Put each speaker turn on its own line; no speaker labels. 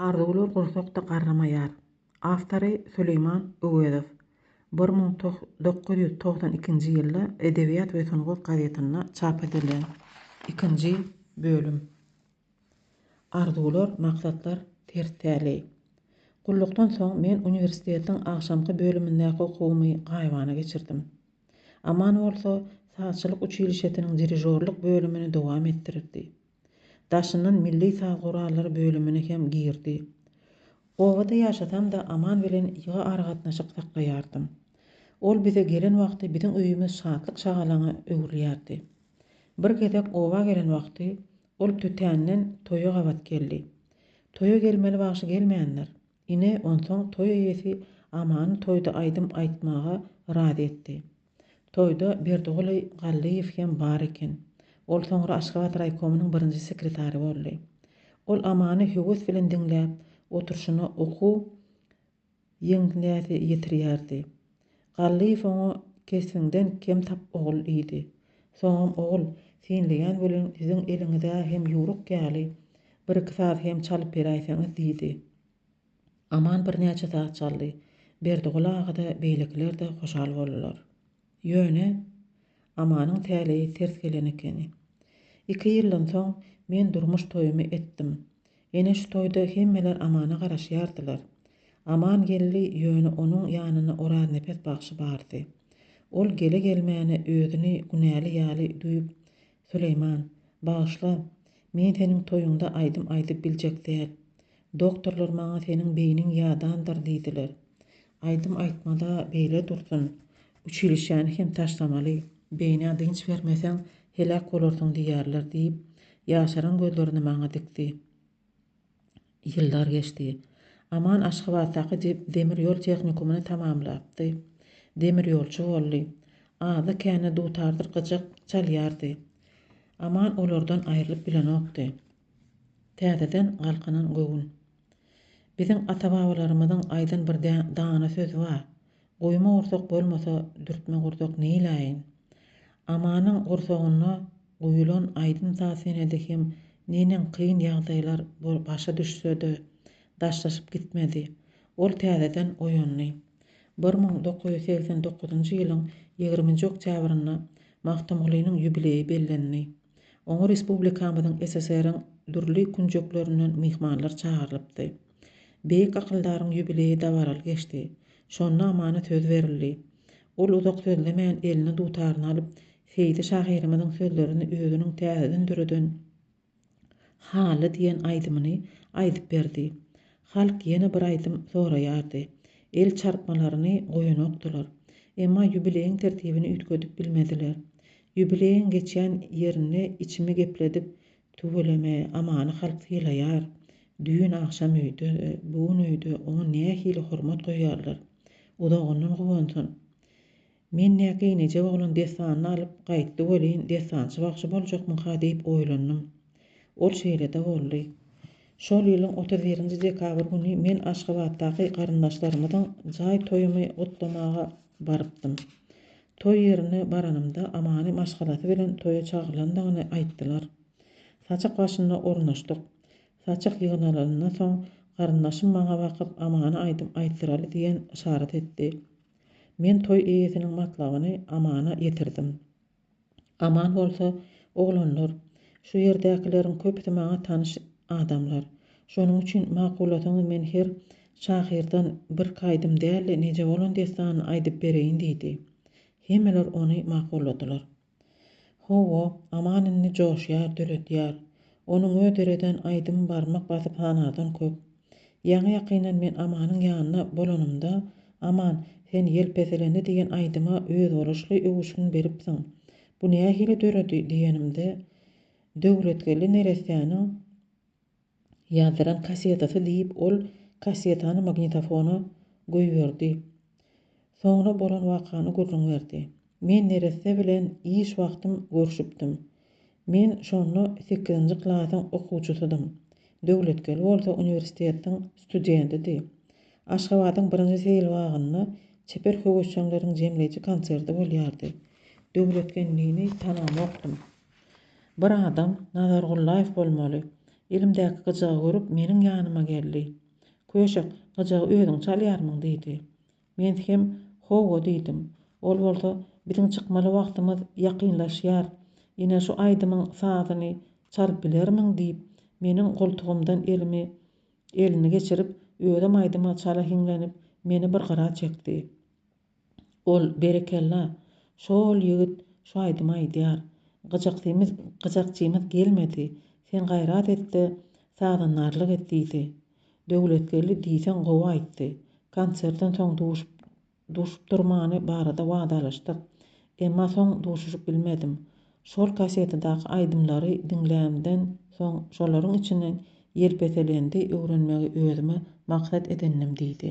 Arzuwlar gursakda garramaýar. Awtory, Süleýman Öwezow. Bir müň dokuz ýüz togsan ikinji ýylda Edebiýat we sungat gazetinde çap edilen ikinji bölüm. Arzuwlar, maksatlar ters täli. Gullukdan soň men uniwersitetiň agşamky bölümindäki okuwymy gaýybana geçirdim. Aman bolsa, sazçylyk uçilişesiniň dirižorlyk bölümini dowam etdirdi. Daşyndan milli saz gurallary bölümine hem girdi. Obada ýaşasam-da Aman bilen ýygy aragatnaşyk saklaýardym. Ol bize gelen wagty biziň öýümiz şatlyk-şagalaňa öwrülýärdi. Bir gezek oba gelen wagty ol Tötänden toýa gabat geldi. Toýa gelmeli bagşy gelmändir. Ine, onsoň toý eýesi Amany toýda aýdym aýtmaga razy etdi. Toýda Berdigoly Gallyýew hem bar eken. Ol soňra Aşgabat raýkomynyň birinji sekretary boldy. Ol Amany höwes bilen diňläp oturyşyna okuw ýeňňäsi ýetirýärdi. Garlyýew oňa kesbiňden kem tap ogul diýdi. Soňam ogul, synlaýan welin siziň eliňiz-ä hem ýüwrük ýaly, bir-iki saz hem çalyp beräýseňiz diýdi. Aman birnäçe saz çaldy. Berdiguly aga-da, beýlekiler-de hoşal boldular. Ýöne, Amanyň täleýi ters gelen ekeni. Iki ýyldan soň men durmuş toýumy etdim. Ene şu toýda hemmeler Amana garaşýardylar. Aman geldi, ýöne onuň ýanynda Oraznepes bagşy bardy. Ol gele-gelmäne özüni günäli ýaly duýup, Süleýman, bagyşla, men seniň toýuňda aýdym aýdyp biljek däl. Doktorlar maňa seniň beýniň ýadandyr diýdiler. Aýdym aýtma-da, beýle dursun. Uçilişýäni hem taşlamaly. Beýnä dynç bermeseň, heläk bolarsyň diýýärler, diýip, ýaşaran gözlerini maňa dikdi. Ýyllar geçdi. Aman Aşgabatdaky demir ýol tehnikumyny tamamlapdy. Demir ýolçy boldy. Azda-kände dutardyr gyjak çalýardy. Aman olardan aýrylyp bilenokdy. Täzeden galkynan göwün. Biziň ata-babalarymyzyň aýdan bir dana sözi bar. Guýma gursak bolmasa dürtme gursak neýläýin? Amanyň gursagynda guýulan aýdym saz senedi hem neneň kyn ýagdaýlar bol başa düşse-de daşlaşyp gitmedi. Ol täzeden oýandy. Bir müň dokuz ýüz segsen dokuzynjy ýylyň ýigriminji oktýabrynda Magtymgulynyň ýubileýi bellendi. Oňa respublikamyzyň, SSR-iň dürli künjeklerinden myhmanlar çagyrylypdy. Beýik akyldaryň ýubileýi dabaraly geçdi. Şonda Amana söz berildi. Ol uzak sözlemän eline dutaryny alyp, Seýdi şahyrymyzyň sözlerini özüniň täzeden döreden Haly diýen aýdymyny aýdyp berdi. Halk ýene bir aýdym soraýardy. El çarpmalaryny goýanokdylar. Emma ýubileýiň tertibini üýtgedip bilmediler. Ýubileýiň geçýän ýerinde içimi gepledip, Tüweleme, Amany halk sylaýar. Düýn agşam öýde, bu gün öýde oňa nähili hormat goýýarlar. Uzagyndan guwansyn. Men nä geýnejek oglan dessanyny alyp gaýtdy welin dessançy bagşy boljakmyka diýip oýlandym. Ol şeýle-de boldy. Şol ýylyň otuz birinji dekabr güni men Aşgabatdaky garyndaşlarymyzyň jaý toýumy gutlamaga barypdym. Toý ýerine baranymda Amany maşgalasy bilen toýa çagyrylandygyny aýtdylar. Saçak başynda ornaşdyk. Saçak ýygnalanyndan soň garyndaşym maňa bakyp Amany aýdym aýtdyraly diýen yşarat etdi. Men toý eýesiniň matlabyny Amana ýetirdim. Aman bolsa, Oglanlar, şu ýerdäkileriň köpüsi maňa tanyş adamlar. Şonuň üçin makulasaňyz men her şahyrdan birki aýdym däl-de neje bolan dessanyny aýdyp bereýin diýdi. Hemmeler ony makulladylar. Hawa, Aman indi joşýar, döredýär. Onuň öz döreden aýdymy barmak basyp hanadan köp. Ýaňy-ýakyndan men Amanyň ýanynda bolanymda, Aman, sen Ýelpeselendi diýen aýdyma özboluşly öwüşgin beripsiň. Bu nähili döredi diýenimde, Döwletgeldi neressäniň, Ýazdyran kassetasy diýip ol kassetany magnitofona goýberdi. Soňra bolan wakany gürrüň berdi. Men neresse bilen iş wagtym görşüpdim. Men şonda sekizinji klasyň okuwçysydym. Döwletgel bolsa uniwersitetiň studentidi. Aşgabadyň birinji seýil bagynda çeper höwesjeňleriň jemleýji konserti bolýardy. Döwletgelnini tanamokdym. Bir adam Nazargullaýew bolmaly. Elimdäki gyjagy görüp, meniň ýanyma geldi. Köşek, gyjagy özüň çalýarmyň? diýdi. Men hem Hawa diýdim. Ol bolsa, Biziň çykmaly wagtymyz ýakynlaşýar. Ine şu aýdymyň sazyny çalyp bilermiň? diýip, meniň goltugymdan elimi elini geçirip, özem aýdyma çala hiňlenip, meni bir gyra çekdi. Ol, Berekella, şo-ol ýigit şu aýdymy aýdýar. Gyjakjymyz, gyjakjymyz gelmedi. Sen gaýrat et-de, sazandarlyk et, diýdi. Döwletgeldi diýseň gowy aýtdy. Konsertden soň duşup, duşup durmany barada wadalaşdyk. Emma soň duşuşyp bilmedim. Şol kasetadaky aýdymlary diňlämden soň şolaryň içinden Ýelpetelendi öwrenmegi özüme maksat edindim, diýdi.